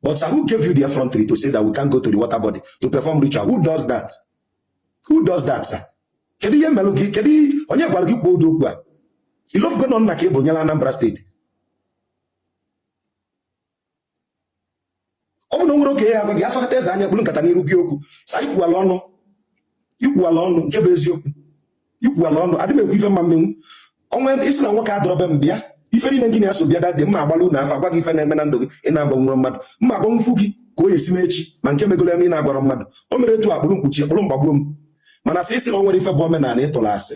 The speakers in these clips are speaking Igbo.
But sir, who gave you the effrontery to say that we can't go to the water body to perform ritual? Who does that? Who does that, sir? Kedu ihe melụ gị? Kedu onye gwara gị kwuo ụdị okwu a? Ị lofugo na ọ nna ka ị bụ nyelụ Anambra state. Ọ bụ na o nwere oge a ga-asọkata eze anya kpulu nkata n'iru gwa gị okwu. Sa ikwuwala ọnụ ikwuwala ọnụ nke bụ eziokwu ikwuwala ọnụ adị m ekwu ife m ma-emenwu onwe isi na nwoke adọrọbe m bịa ife niile gị na-eso bịa dadị mma agbaalụ unu afa agwa gị ife na-eme na ndụ gị ị na-agbanwere mmadụ m ma-agwanwu gị ka ọ ya-esi mee echi ma nke megolo eme ị na-agwara mmadụ o mere etu a kpụrụ m kpọchie a kpụrụ m gbagbuo m mana sa ị sị na o nwerọ ife bụ omenala ị tụrụ asị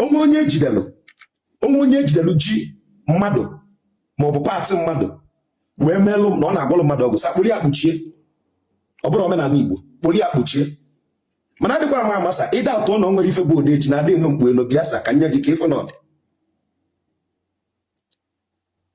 o nwee onye ejidelu o nwee onye ejidelu ji mmadụ maọbụ part mmadụ wee meelụ na ọ na-agwọlụ mmadụ ọgwụ sa kpụrụ ya kpọchie ọ bụrọ omenala Igbo kpụrụ ya kpọchie mana adịkwa ama ama sa ịda atụ na o nwerọ ife bụ odeshi na adị eno mkpu eno bịa sa ka nye gị ka ị fụ na ọ dị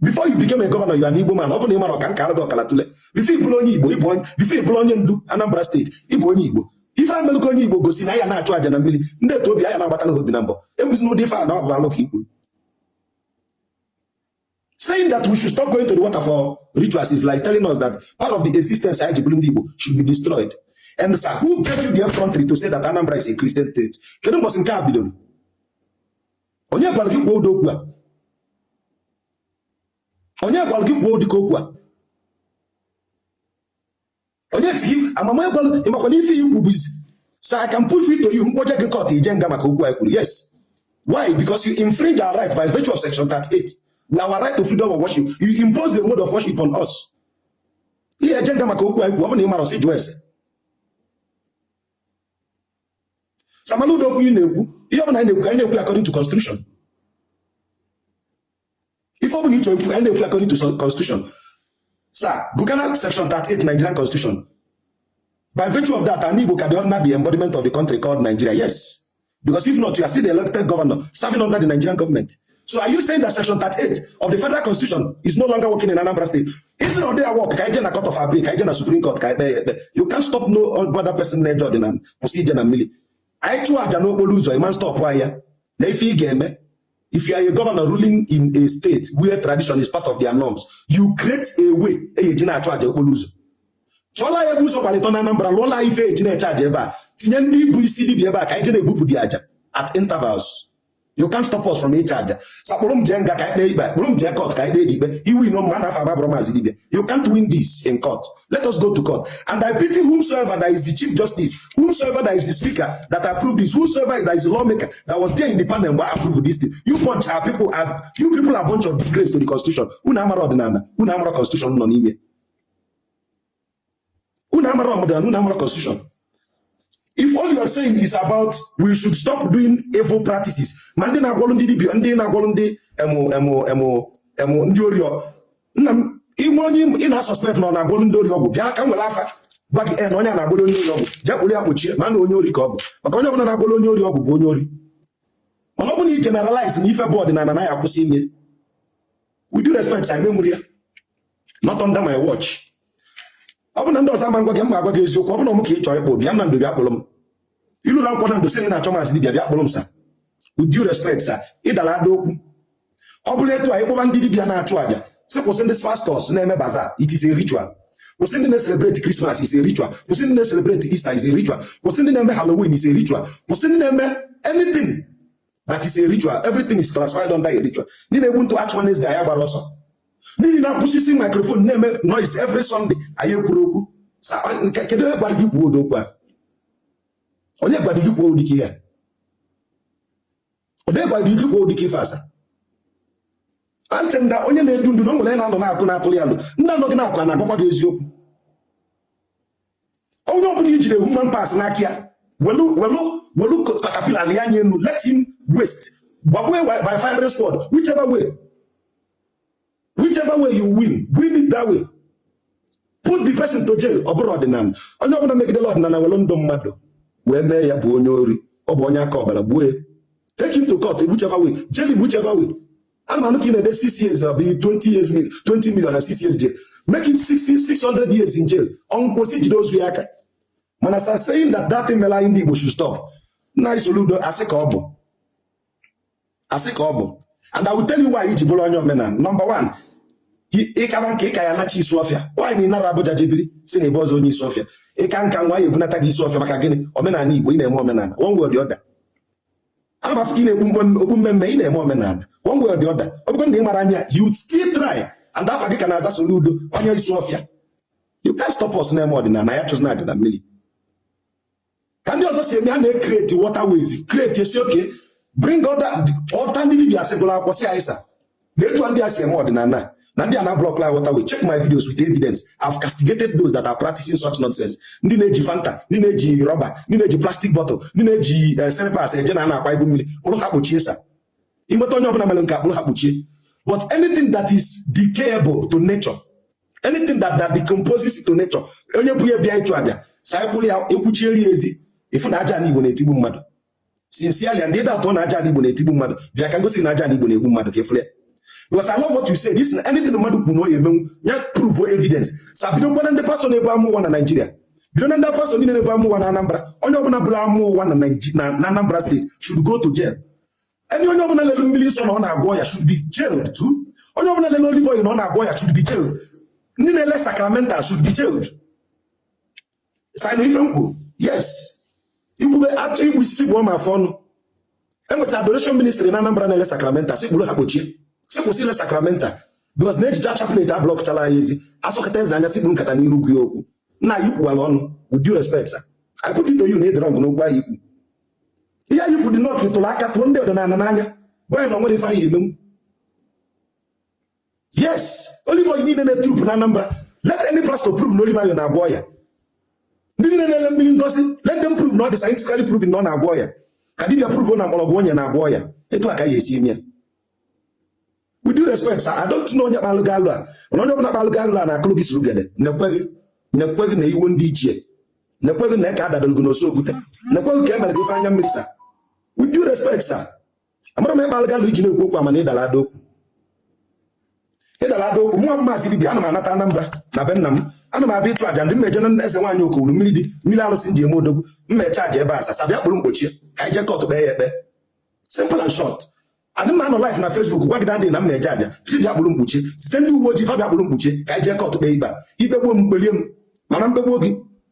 before you became a governor you are an Igbo man ọ bụrụ na ị marọ ka m kaalụ gị ọkala tụle before ị bụrụ onye Igbo ị bụ onye before ị bụrụ onye ndu Anambra state ị bụ onye Igbo ife amelụgo onye Igbo gosi na ya na-achụ aja na mmiri ndị etu obi anya na-agbatala ha obi na mbọ ebuzi n'ụdị ife a na ọ bụ alụ ka ị kwuru saying that we should stop going to the water for rituals is like telling us that part of the existence anyị ji bụrụ ndị Igbo should be destroyed and sir who gave you the effrontery to say that Anambra is a Christian state kedu mbọsị nke a bidoro onye gwara gị kwuo ụdị okwu a onye gwara gị kwuo ụdị ka okwu a onye si gị amama gwara ị makwa na ife ị kwu bụzi sa ka m put it to you m kpọje gị court ị je nga maka okwu a ị kwuru yes why because you infringe our right by virtue of section 38 na our right to freedom of worship you impose the mode of worship on us ị ya-eje nga maka okwu a ị kwuru ọ bụ na ị marọ sa jụọ ese sa mana ụdị okwu ị na-ekwu ihe ọbụla anyị na-ekwu ka anyị na-ekwu according to constitution ife ọbụla ị chọ ikwu anyị na-ekwu according to constitution sa gụgana section 38 Nigerian constitution by virtue of that anị Igbo ka dị under the embodiment of the country called Nigeria yes because if not you are still the elected governor serving under the Nigerian government So are you saying that section 38 of the federal constitution is no longer working in Anambra state? Ị sị na ọ dị a-work? Ka anyị je na court of appeal, ka anyị je na supreme court, ka anyị je. You can't stop no other person na judge na procedure na mmili. I chụọ aja n'okporo ụzọ, ị ma-astop ya. Nee ife ị ga-eme. If you are a governor ruling in a state where tradition is part of their norms, you create a way eji eji na-achụ aja okporo ụzọ. Chọla ya ebe ụzọ gbalụ ịtọ na Anambra, lụọla ife eji na-eche aja ebe a. Tinye ndị bụ isi dibịa ebe a ka anyị je na-ebupụ ndị aja at intervals. you can't stop us from ịchụ aja sa kpụrụ m jee nga ka e kpee ikpe kpụrụ m jee court ka ikpe dị ikpe i winuo m ma na afa m abụrọ maazị dibia you can't win this in court let us go to court and I pity whomsoever that is the chief justice whomsoever that is the speaker that approved this whomsoever that is the lawmaker that was there in the panel mgbe approve this thing you bunch are people are you people are bunch of disgrace to the constitution unu amara ọdịnala unu amara constitution nọ n'ime unu amara ọdịnala unu amara constitution if all you are saying is about we should stop doing evil practices ma ndị na-agwọrụ ndị dibia ndị na-agwọrụ ndị em em em em ndị ori nna m i nwee onye ị na-asuspect na ọ na-agwọrụ ndị ori ọgwụ bịa ka m were afa gwa gị na onye na-agwọrụ onye ori ọgwụ jee kpụrụ ya kpọchie ma na onye ori ka ọ bụ maka onye ọbụla na-agwọrụ onye ori ọgwụ bụ onye ori mana ọ bụ na i generalize na ife bụ ọdịnala na ya akwụsị ime with due respect anyị ama ewere ya not under my watch ọ bụ na ndị ọzọ ama agwa gị m ma agwa gị eziokwu ọ bụ na m ka ị chọọ ịkpụ bịa Nando bịa kpụrụ m i lue na Nkwọ Nando sị na achọ maazị dibia bịa kpụrụ m sa with due respect sa ị dara ada okwu ọ bụla etu a ị kpọba ndị dibia na-achụ àjà sị kwụsị ndị pastors na-eme bazaar it is a ritual kwụsị ndị na-ecelebrate Christmas is a ritual kwụsị ndị na-ecelebrate Easter is a ritual kwụsị ndị na-eme halloween is a ritual kwụsị ndị na-eme anything that is a ritual everything is classified under a ritual ndị na-egbu ntụ achụ nwanne ezga ya gbara ọsọ ndị na-apụsisi microphone na-eme noise every Sunday anyị ekwurọ okwu kedu onye gwara gị kwuo ụdị okwu ahụ onye gwara gị kwuo ụdị ka ihe onye gwara gị kwuo ụdị ka ife a sa I think na onye na-edu ndu na o nwere na-anọ n'akụkụ na-atụrụ ya nụ ndị nọ gị n'akụkụ a na-agwakwa gị eziokwu onye ọbụla i jide human parts n'aka ya welu welu welu katapila ya anya enu let him waste gbagbuo by firing squad whichever way whichever way you win win it that way put the person to jail ọ bụrọ ọdịnala onye ọbụla megidela ọdịnala welu ndụ mmadụ wee mee ya bụ onye ori ọ bụ onye aka ọbara gbuo ya take him to court whichever way jail him whichever way anụ m anụ ka ị na-ede 6 years ọ bụ 20 years 20 million na 6 years jail make it 600 years in jail ọ nwụọ kwụsị jide ozu ya aka mana sa saying that that thing mere anyị ndị Igbo should stop nna anyị Soludo asị ka ọ bụ asị ka ọ bụ and I will tell you why i ji bụrụ onye omenala number one ị kaba nka ị ka ya-anachi Isuofia nwaanyị na ị nara Abuja jee biri si na ebe ọzọ onye Isuofia ị kaa nka nwụọ a ya-ebunata gị Isuofia maka gịnị omenala Igbo ị na-eme omenala one way or the other ana m afụ ka ị na-ekpu okpu mmee mmee ị na-eme omenala one way or the other ọ bụkwa na ị mara anya you still try and afa gị ka na-aza Soludo onye Isuofia you can't stop us na-eme ọdịnala ya chụzụ na adịna mmiri ka ndị ọzọ si eme ha na-ecreate waterways create e sị okay bring other ndị dibia sị gụrụ akwụkwọ si aịsa na etu ndị a si eme ọdịnala na ndị a na-ablock waterway check my videos with evidence I've castigated those that are practicing such nonsense ndị na-eji fanta ndị na-eji rọba ndị na-eji plastic bottle ndị na-eji eh, slippers eje na a na-akwa ibu mmiri kpụrụ ha kpọchie sir i nweta onye ọbụla mere nke a kpụrụ ha kpọchie but anything that is decayable to nature anything that that decomposes to nature onye bu ya bịa ịchụ aja sir ekwuru ya ekwuchieri ezi ị fụ na aja na Igbo na-etigbu mmadụ sincerely and ịda atọ na aja Igbo na-etigbu mmadụ bịa ka m gosi na aja Igbo na-egbu mmadụ ka ị fụrụ ya because I love what you say this anything mmadụ kwuru na ọ ya-emenwu ya prove evidence sir bidokwa na ndị pastọ na-ebu amụma na Naịjirịa bido na ndị pastọ niile na-ebu amụma na Anambra onye ọbụla bulu amụma na Anambra steeti should go to jail any onye ọbụla lele mmiri nsọ na ọ na-agwọ ọya should be jailed too onye ọbụla lele olive oil na ọ na-agwọ ọya should be jailed ndị na-ele sacramental should be jailed sir ị nụ ife m kwuru yes i kwube atụ igbu isi bụ ọma afọ ọnụ enwecha adoration ministry na Anambra na-ele sacramental sị kpụrụ ha kpọchie sị kwụsị ile sacramental because na e jicha chaplet ablọkchala anyị ezi a sọkata eze anya sị kpuru nkata n'iru gwa ya okwu nna anyị gọvanọ with due respect sir I put it to you na ị dịrọ ngụ n'okwu anyị ikwu ihe anyị kwu dị n'ọkụ tụrụ aka tụọ ndị ọdịnala n'anya gwa ya na o nwere ife anyị emenwu yes olive oil niile na-eturupu na Anambra let any pastor prove na olive oil na-agwọ ọya ndị niile na-ele mmiri ngọzi let them prove na ọ dị scientifically proven na ọ na-agwọ ọya ka dibia prove na mgbọrọgwụ o nye na-agwọ ọya etu a ka a ya-esi eme ya with due respect sir I don't know onye kpalụ gị alo a mana onye ọbụla kpalụ gị alo a na-akụlụ gị surugede nekwa gị nekwa gị na iwu ndị ichie nekwa gị na eke adadoro gị n'osu okwute nekwa gị ka e mere gị ife anya mmiri sir with due respect sir amara m ebe algalụ i ji na-ekwu okwu a mana ị dara ada okwu ị dara ada okwu nwa maazị dibia ana m anata Anambra na be nna m ana m abịa ịchụ aja ndị mmeje na eze nwaanyị okowuru mmiri dị mmiri arụsị ji eme odogwu m mechaa aja ebe a sir sir bịa kpụrụ m kpọchie ka anyị je kọtụ kpee ya ekpe simple and short adị m anọ live na Facebook gwa gị dadị na mmeje aja sị bịa kpụrụ m kpọchie zite ndị uwe ojii fa bịa kpụrụ m kpọchie ka anyị je kọtụ kpee ikpe i kpegbuo m kpelie m mana m kpegbuo gị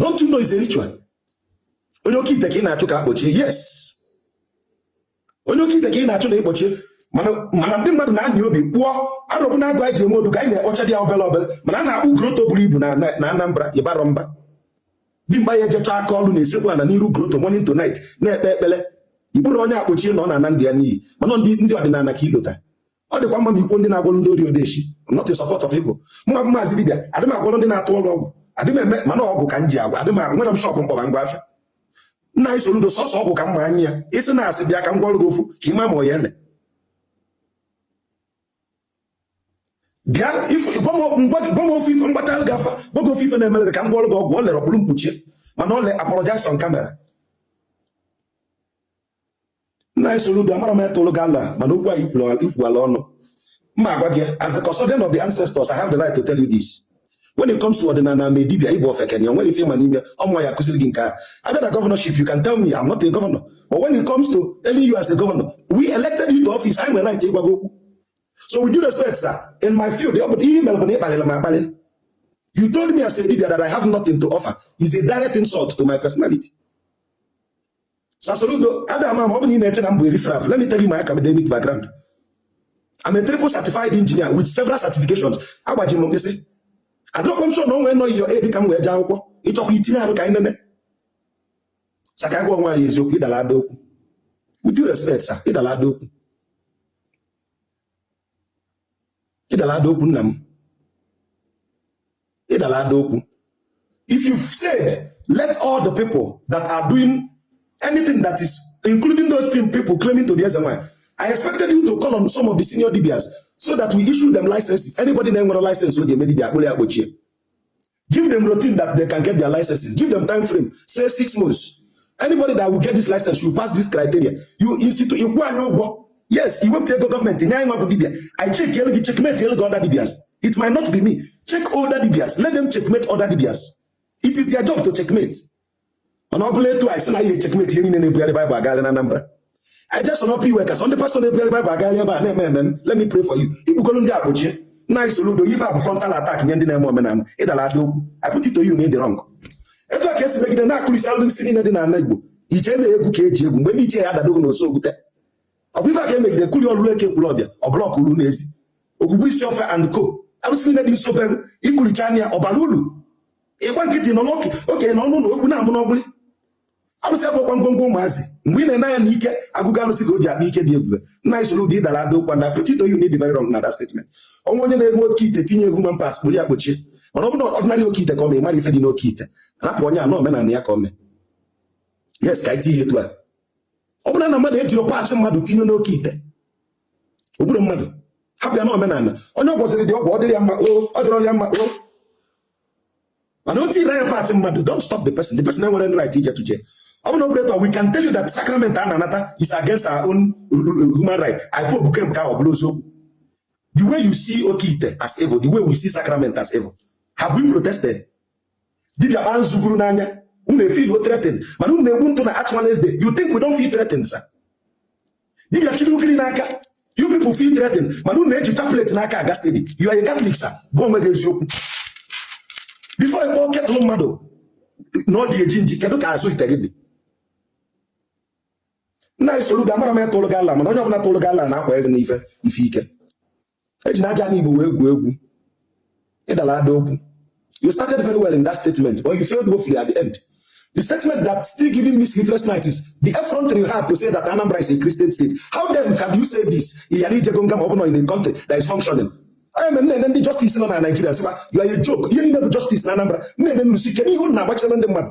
don't you know is a ritual onye oke ite ka ị na-achụ ka a kpọchie yes onye oke ite ka ị na-achụ na ị kpọchie mana ndị mmadụ na-anya obe kpụọ arụbụ na agwụ anyị ji enwe odu ka anyị na-akpụcha dị ya obere obere mana a na-akpụ grotto buru ibu na Anambra ị barọ mba dimkpa ya-ejecha aka ọrụ na-esekpu ana n'iru grotto morning to night na-ekpe ekpere ị kpụrọ onye a kpọchie na ọ na-ana ndụ ya n'iyi mana ndị ọdịnala ka i lota ọ dịkwa mma ma i kwuo ndị na-agwọrọ ndị ori odeshi not in support of evil mụwa maazị dibịa adị m agwọrọ ndị na-atụ ọrụ ọgwụ adị m eme mana ọgwụ ka m ji agwọ adị m nwere m shọpụ m kpọba ngwa afịa nna anyị Soludo sọsọ ọgwụ ka m ma anya ya isi na asị bịa ka m gwọọrọ gị ofu ka ị ma ma ọ ya-ele bịa gwa m ofu ife m gbata gị afa gwa gị ofu ife na-emere gị ka m gwọọrọ gị ọgwụ ọ lerọ kpụrụ m kpọchie mana ọ le apologize on camera nna anyị Soludo amarọ m onye tụrụ gị alo mana okwu a i kwuala ọnụ m ga-agwa gị as the custodian of the ancestors I have the right to tell you this when it comes to ọdịnala na dibia ị bụ ofeke na o nwerọ ife ị ma n'ime ọ mụwa ya-akụziri gị nke a bịa na governorship you can tell me I'm not a governor but when it comes to telling you as a governor we elected you to office anyị nwere right ịgwa gị okwu so with due respect sir in my field ọ bụ ihe i mere bụ na ị kpalịrị m akpalị you told me as a dibia that I have nothing to offer is a direct insult to my personality Sir Soludo a da ama ma ọ bụ na ị na-eche na m bụ riffraff let me tell you my academic background I'm a triple certified engineer with several certifications agbaji m mkpịsị adịrọkwa m sure na o nwee nọ your aide ka m wee jee akwụkwọ ị chọkwa i tinye arụ ka anyị nene sir ka gwa onwe anyị eziokwu ị dala ada okwu with due respect sir ị dala ada okwu ị dala ada okwu nna m ị dala ada okwu if you said let all the people that are doing anything that is including those things people claiming to be eze nwanyị I expected you to call on some of the senior dibias so that we issue them licenses. Anybody na-enwerọ license o ji eme dibia a kpụrụ ya kpochie. Give them routine that they can get their licenses. Give them time frame. Say six months. Anybody that will get this license should pass this criteria. You institute ịkwụ anyị ụgwọ. Yes, iwepụta ego gọọmenti nye anyị nwa bụ dibia. I check elu gị checkmate elu gị other dibias. It might not be me. Check other dibias. Let them checkmate other dibias. It is their job to checkmate. mana ọ bụla etu a sị na anyị e-checkmate ihe niile na-ebugharị baịbụl agagharị na Anambra I just want to iwe ka sọ ndị pastọ na-ebugharị baịbụl agagharị ebe a na-eme emume let me pray for you ị kpụgolu ndị a kpochie nna anyị Soludo ife a bụ frontal attack nye ndị na-eme omenala ị dara ada okwu I put it to you na ị dị wrong etu a ka e si megide na-akụrisi alụsị niile dị n'ala Igbo ije na egwu ka eji egwu mgbe ndị ichie ya adadogo na oso okwute ọ bụ ife a ka e megide kuli ọlụlụ Eke Ekwulobia ọ blọk ulu n'ezi Ogwugwu Isuofia and co alụsị niile dị nso be i kuricha anya ọ bara ulu ị gba nkịtị nọ n'oke okenye nọ n'ụnọ ewu na-amụ n'ọgbụlị arụsị abụkwa ngwongwo ụmụazị mgbe ị na-ene anya na ike agwụgo arụsị ka o ji akpa ike dị ebube nna anyị Soludo ị dara ada okwu I put it to you na ị dị very wrong na that statement o nwee onye na-eme oke ite tinye human parts kpụrụ ya kpochie mana ọ bụrụ na ordinary oke ite ka ọ mee mara ife dị n'oke ite rapụ onye a na omenala ya ka ọ mee yes ka e tinye etu a ọ bụrụ na mmadụ ejirọ parts mmadụ tinye n'oke ite o gburọ mmadụ hapụ ya na omenala onye ọ gwọsịịrị ọgwụ ọ dịrị ya mma o ọ dịrị ya mma o mana o tinyerọ na ya parts mmadụ don't stop the person the person enwere right ije tuje ọ bụ na operator we can tell you that sacrament a na-anata is against our own human right i pope kem ka ọ bụla eziokwu the way you see oke ite as evil the way we see sacrament as evil have we protested dibia kpaa nzu buru n'anya unu e-feel threatened mana unu na-egbu ntụ na Ash Wednesday you think we don't feel threatened sir dibia chịlị ugiri n'aka you people feel threatened mana unu na-eji chaplet n'aka aga steady you are a Catholic sir gwa onwe gị eziokwu before ị kpọ kettle mmadụ na ọ dị eji nji kedu ka azụ ite gị dị nna anyị Soludo amarọ m onye tụrụ gị alo mana onye ọbụla tụrụ gị alo na-akwa gị n'ife ife ike ejina aja ndị Igbo wee gwuo egwu ị dala ada okwu you started very well in that statement but you failed woefully at the end the statement that still giving me sleepless night is the effrontery you have to say that Anambra is a Christian state how then can you say this ị yali ijego nga ma ọ bụ na in a country that is functioning anya mere na-ene ndị justice nọ na Naịjirịa sịkwa you are a joke ihe niile bụ justice na Anambra na-ene unu sị kedu ihe unu na-agbachitara ndị mmadụ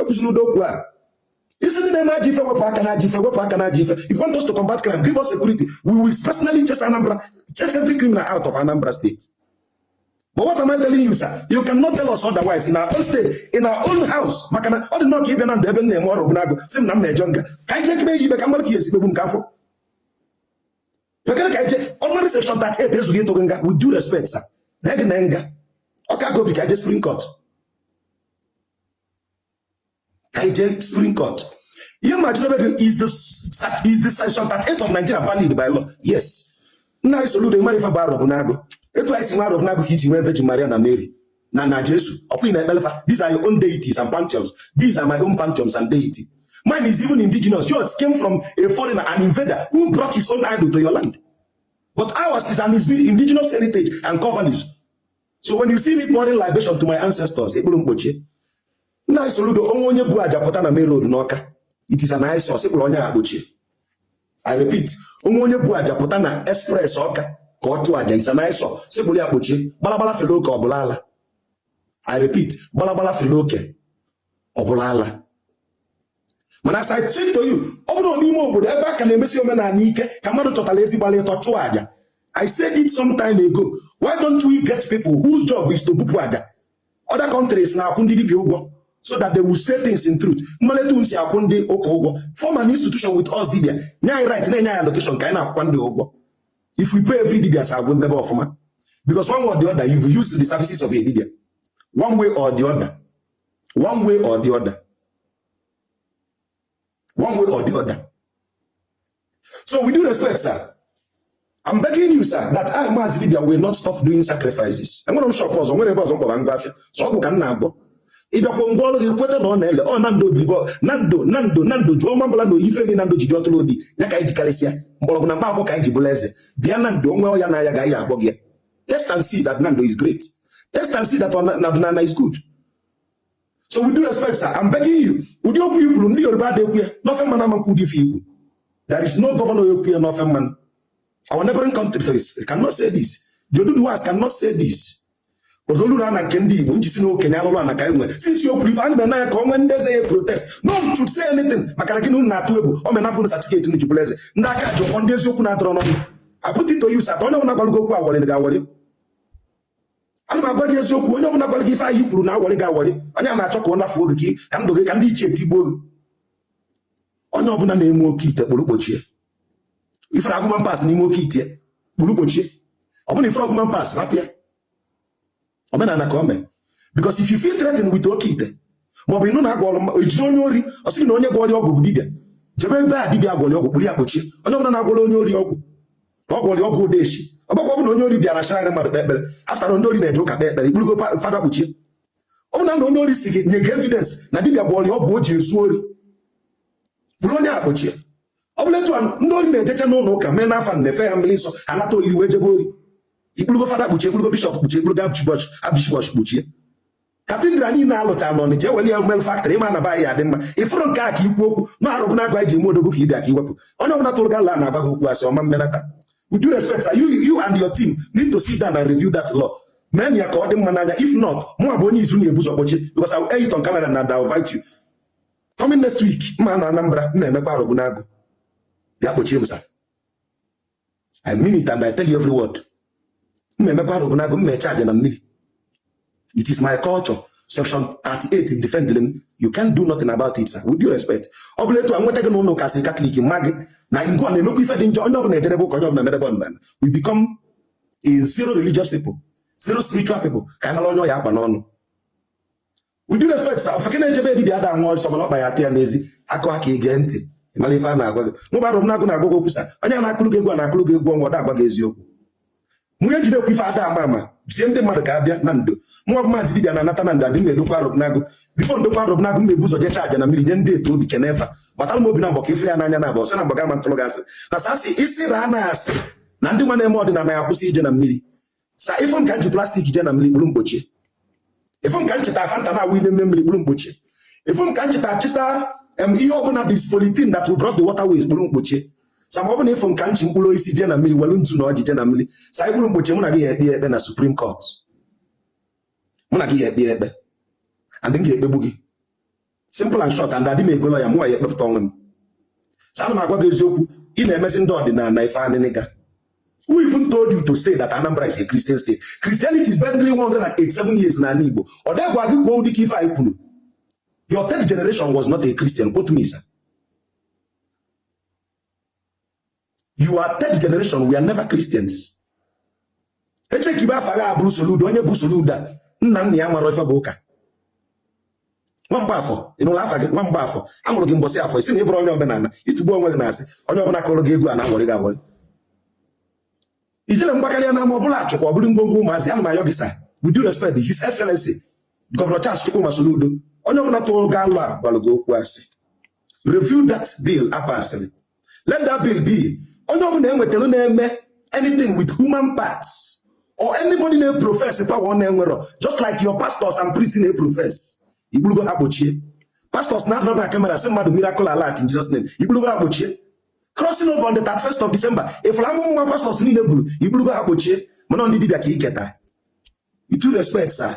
ekwusi n'udo okwu a ị sị ndị na-eme ajọ ife wepụ aka na ajọ ife wepụ aka na ajọ ife if you want us to combat crime give us security we will personally chase Anambra chase every criminal out of Anambra state But what am I telling you, sir? You cannot tell us otherwise in our own state, in our own house. maka na ọ dị nnọọ ka ị bịa Nando ebe m na-eme ọrụ bụnagụ si m na m na-eje nga ka anyị jee kebe ya ibe ka mmadụ ka ya esikpegbu nke afọ bekere ka anyị jee ordinary section 38 ezughị ịtụ gị nga with due respect sir na gị na nga Ọka aga obi ka anyị jee Supreme Court ka anyị jee Supreme Court ihe ma chidebe gị is the is the section 38 of Nigeria valid by law yes nna anyị Soludo mara ife bụ Arọbịnagụ etu anyị si nwe Arọbịnagụ ka i ji nwee Virgin Maria na Mary na na Jesu ọ kwa ị na-ekpelu fa these are your own deities and pantheons these are my own pantheons and deity mine is even indigenous yours came from a foreigner an invader who brought his own idol to your land but ours is an indigenous heritage and core values so when you see me pouring libation to my ancestors ị kpụrụ m kpọchie nna anyị Soludo o nwee onye bu aja pụta na main road n'Ọka it is an eyesore sị kpụrụ onye a kpọchie i repeat o nwee onye bu aja pụta na express Ọka ka ọ chụọ aja is an eyesore sị kpụrụ ya kpọchie gbalagbala fere oke ọ bụrụ ala i repeat gbalagbala fere oke ọ bụrụ ala mana as I speak to you ọ bụrụ n'ime obodo ebe a ka na-emesi omenala ike ka mmadụ chọtara ezi gbalụ ịtọ chụọ aja I said it some time ago why don't we get people whose job is to bupụ aja other countries na-akwụ ndị dibịa ụgwọ so that they will say things in truth ị malụ etu unu si akwụ ndị ụka ụgwọ form an institution with us dibịa nye anyị right na-enye anyị allocation ka anyị na-akwụkwa ndị ụgwọ if we pay every dibịa sa agwụ mebe ọfụma because one way or the other you've used the services of a dibịa one way or the other one way or the other one way or the other so with due respect sir I'm begging you sir that I Maazị Dibịa will not stop doing sacrifices enwere m shop ọzọ nwere ebe ọzọ m kpọba ngwa afịa sọ ọgwụ ka m na-agwọ ị bịakwa m gwọọrọ gị kweta na ọ na-ele ọ Nando obibo Nando Nando Nando jụọ mabala na oyife gị Nando jide ọtụrụ obi ya ka anyị jikarịsịa mgbọrọgwụ na mkpa akwụkwọ ka anyị ji bụrụ eze bịa Nando o nwee ọya na-aya gị anyị agwọọ gị ya Test and see that Nando is great. Test and see that Nando is good. So with due respect, sir, I'm begging you. Ụdị okwu i kwuru ndị Yoruba adịghị ekwu ya ndị ofe mmanụ ama ekwu ụdị ife i kwu. There is no governor ekwu ya n'ofe mmanụ. Our neighboring country face cannot say this. The Oduduwas cannot say this. Odoluru ana nke ndị Igbo m ji sị na okenye alụrụ ana ka e nwere. Since i kwuru ife a na-eme ya ka o nwee ndị eze ya protest. No one should say anything maka na gị na unu na-atụ egwu. O mee napụ unu certificate unu ji bụrụ eze. Ndị aka ji ọfọ ndị eziokwu na-atụrụ n'ọnụ. I put it to you sir that onye ọbụla gwara gị okwu awọrị gị awọrị ana m agwa gị eziokwu onye ọbụla gwara gị ife a ị kwuru na-awọrị gị awọrị onye a na-achọ ka ọ nafuo gị ka ndụ gị ka ndị ichie tigbuo gị onye ọbụla na-eme oke ite kpụrụ kpochie ị fụrụ human parts n'ime oke ite kpụrụ kpochie ọ bụ na ị fụrọ human parts rapụ ya omenala ka o mee because if you feel threatened with oke ite maọbụ ị nụ na a gwọrọ e jide onye ori ọ sị na onye gwọrọ ọgwụ bụ dibịa jebe ebe a dibịa gwọrọ ọgwụ kpụrụ ya kpochie onye ọbụla na-agwọrọ onye ori ọgwụ na ọ gwọrọ ọgwụ odeshi ọgbakwa ọbụla onye ori bịara shara mmadụ kpe ekpere after all ndị ori na-eje ụka kpe ekpere ị kpụrụgo fada kpochie ọ bụrụ na onye ori si gị nye gị evidence na dibịa gwọrọ ọgwụ o ji ezu ori kpụrụ onye a kpochie ọ bụ na etu a ndị ori na-ejecha n'ụlọ ụka mee na fada na-efe ha mmiri nsọ anata oli wee jebe ori ị kpụrụgo fada kpochie ị kpụrụgo bishop kpochie ị kpụrụgo archbishop kpochie cathedral niile a lụcha na Ọnịcha e welu ya melu factory ịma na baghị ya dị mma ịfụrụ nke a ka ikwu okwu na arọbịnagụ e ji eme odogwu ka ịbịa ka iwepụ onye ọbụla tụrụ gị alo na-agwa gị okwu asị ọma mmenata with due respect sir you you and your team need to sit down and review that law mee na ya ka ọ dị mma n'anya if not mụwa bụ onye izizi ị na-ebu ụzọ kpochie because I will air it on camera and I will invite you coming next week m na-ana Anambra m na-emekwa arọbịnagụ ya kpochie m sir I mean it and I tell you every word m na-emekwa arọbịnagụ m na-eje aja na mmiri it is my culture section 38 defendere m you can't do nothing about it sir with due respect ọ bụ na etu a nweta gị na ụlọ ụka si katọlik ma gị na ngwa na-emekwa ife dị njọ onye ọbụla ejerebe ụka onye ọbụla merebe ọdịnala we become a zero religious people zero spiritual people ka anyị mara onye ọ ya-akpa n'ọnụ with due respect sir ofeke na-eje be dibịa ada agba ọsọ mana ọkpa ya ata ya n'ezi a kụọ aka i gee ntị mara ife a na-agwa gị mụ bụ arọbịnagụ na-agwa gị okwu sir onye a na-akụrụ gị egwu a na-akụrụ gị egwu ọnwa ọ da-agwa gị eziokwu nwunye jide okwu ife ada ama ama zie ndị mmadụ ka ha bịa Nando mụwa bụ maazị dibịa na-anata Nando adị m edokwa arọbịnagụ before m dokwa arọbịnagụ m ebu ụzọ jecha aja na mmiri nye ndị eto obi kenefa gbatara m obi na mgbọ ka ife ya n'anya na-agba ọsị na mgbaga ma ntụrụ gị asị na sa asị isi raa na asị na ndị nwa na-eme ọdịnala ya-akwụsị ije na mmiri sir ị fụ m ka m ji plastic jee na mmiri kpụrụ m kpochie ị fụ m ka m chịta Fanta na-awụ ime ime mmiri kpụrụ m kpochie ị fụ m ka m chịta chịta ihe ọbụla that is polluting that will block the waterways kpụrụ m kpochie sir ma ọ bụ na ị fụ m ka m chị mkpụrụ osisi bịa na mmiri welu nzu na ọjị jee na mmiri sir ị kpụrụ m kpochie mụ na gị ya-ekpe ikpe na supreme court mụ na gị ya-ekpe ikpe and m ga-ekpegbu gị simple and short and adị m ego lawyer mụwa ya-ekpepụta onwe m sir ana m agwa gị eziokwu ị na-emezi ndị ọdịnala ife anịnịga who even told you to say that Anambra is a Christian state Christianity is barely 187 years n'ala Igbo ọ dịgwa gị kwuo ụdị ka ife a ị kwuru your third generation was not a Christian quote me sir your third generation were never Christians echekibe afa gị abụrụ Soludo onye bụ Soludo a nna nna ya maara ife bụ ụka Nwamgbafọ ị nụla afa gị Nwamgbafọ a mụrụ gị mbọsị afọ ị sị na ị bụrụ onye omenala ị tụgbuo onwe gị n'asị onye ọbụla kụrụ gị egwu a na-aghọrị gị aghọrị ijele gbakarịa n'ama ọbụla achụkwa ọ bụrụ ngwongwo ụmụazị ana m ayọ gị sa with due respect his excellency gọvanọ Charles Chukwuma Soludo onye ọbụla tụrụ gị alo a gwara gị okwu asị review that bill a pasịrị let that bill be onye ọbụla enwetara na-eme anything with human parts or anybody na-eprofes power ọ na-enwerọ just like your pastors and priests na-eprofes ị kpụrụgo ha kpọchie pastors na-anọrọ na kamera sị mmadụ miracle alert in Jesus name ị kpụrụgo ha kpọchie crossing over on the 31st of December ị fụrụ amụma nwa pastors niile buru ị kpụrụgo ha kpọchie mana ndị dibịa ka iketa with due respect sir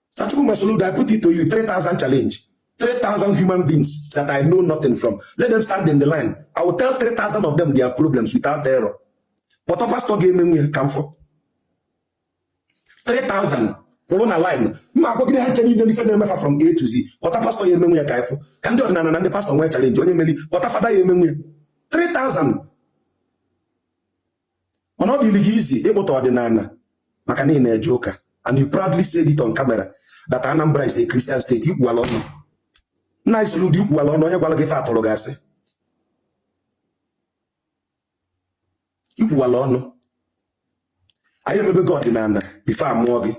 Sa Chukwuma Soludo, I put it to you, 3,000 challenge. 3,000 human beings that I know nothing from. Let them stand in the line. I will tell 3,000 of them their problems without error. Kpọta pastor ga-eme ya ka m fụ 3,000 kwụrụ na line mma agwacha ha ncha niile ife na-eme fa from A to Z kpọta pastọ ya-emenwu ya ka ị fụ ka ndị ọdịnala na ndị pastọ nwee chalenji onye meli kpọta fada ya-emenwu ya 3000 mana ọ dịrị gị easy ibutọ ọdịnala maka na ị na-eje ụka and you proudly said it on camera that Anambra is a Christian state ikwuwala ọnụ nna anyị Soludo ikwuwala ọnụ onye gwara gị ife a tụrụ gị asị ikwuwala ọnụ anyị emebego ọdịnala bifọ a mụọ gị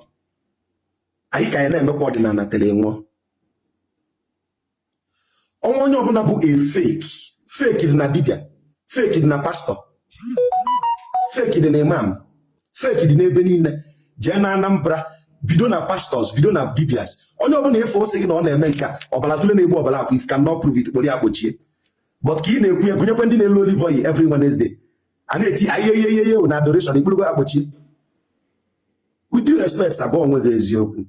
anyị ka ya na-emekwa ọdịnala tere ị nwụọ ọnwa onye ọbụla bụ a fake fake dị na dibia fake dị na pastọ fake dị na imam fake dị n'ebe niile jee na Anambra bido na pastọs bido na dibias onye ọbụla ife ọ sị gị na ọ na-eme nke ọbara tụle na-egbu ọbara akwa if he cannot prove it kpụrụ ya kpọchie but ka ị na-ekwu ya gụnyekwa ndị na-ele olive oil every Wednesday a na-eti ayeyeyeye na adoration ị kpụrụgo ha kpọchie with due respect gwa onwe gị eziokwu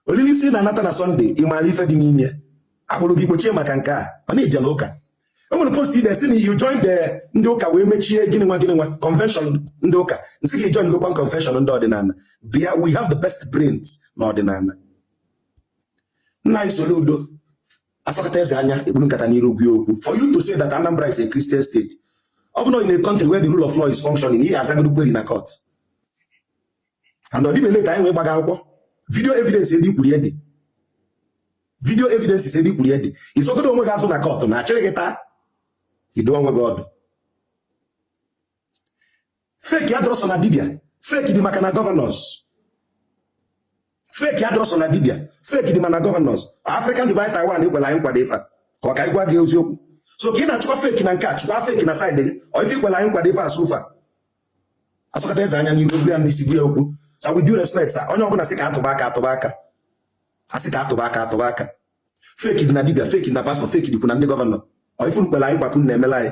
olili isi na-anata na sọnde ị maara ife dị n'ime a kpụrụ gị kpọchie maka nke a mana ị jela ụka e nwere post i dee sị na you join the ndị ụka wee mechie gịnị nwa gịnị nwa convention ndị ụka m sị gị joingokwa convention ndị ọdịnala bịa we have the best brains na ọdịnala nna anyị Soludo a sọkọta eze anya e kpuru nkata n'iru gị okwu for you to say that Anambra is a Christian state ọ bụrụ na in a country where the rule of law is functioning ị ya-azagoro query na court and ọdịbe leta anyị wee gbaga akwụkwọ vidio evidence ebe ikwuru ya dị vidio evidence ebe ikwuru ya dị ị zọgodu onwe gị azọ na kọtụ na achịrị gị taa ị dụọ onwe gị ọdụ fake adịrọ sọ na dibia fake dị ma na gọvanọs fake adịrọ sọ na dibia fake dị ma na gọvanọs African Dubai Taiwan kwere anyị nkwa bụ ife ka ọ ka anyị gwa gị eziokwu so ka ị na-achụkwa fake na nke a chụkwa fake na saịdị gị ọ ife i kwela anyị nkwa bụ ife asụ ụfa asọkata eze anya n'iru ogbu ya n'isi gwa ya okwu sa with due respect sa onye ọbụla sị ka atụba aka atụba aka asị ka atụba aka atụba aka fake dị na dibia fake dị na pastọ fake dịkwu na ndị gọvanọ ọ ife unu kwere anyị nkwa ka unu na-emela anyị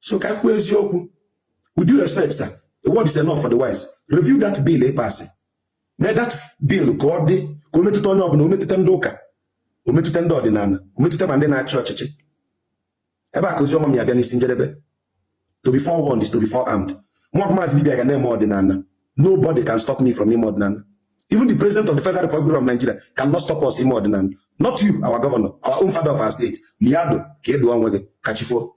so ka kwuo eziokwu with due respect sir a word is enough for the wise review that bill ịpasị mee that bill ka ọ dị ka o metụta onye ọbụla o metụta ndị ụka o metụta ndị ọdịnala o metụta ma ndị na-achị ọchịchị ebe a ka ozi ọma m ya-abịa n'isi njedebe to be forewarned is to be forearmed nwa maazị dibia ga na-eme ọdịnala nobody can stop me from ime ọdịnala even the president of the federal republic of nigeria cannot stop us ime ọdịnala not you our governor our own father of our state liado ka eduo onwe gị ka chi fo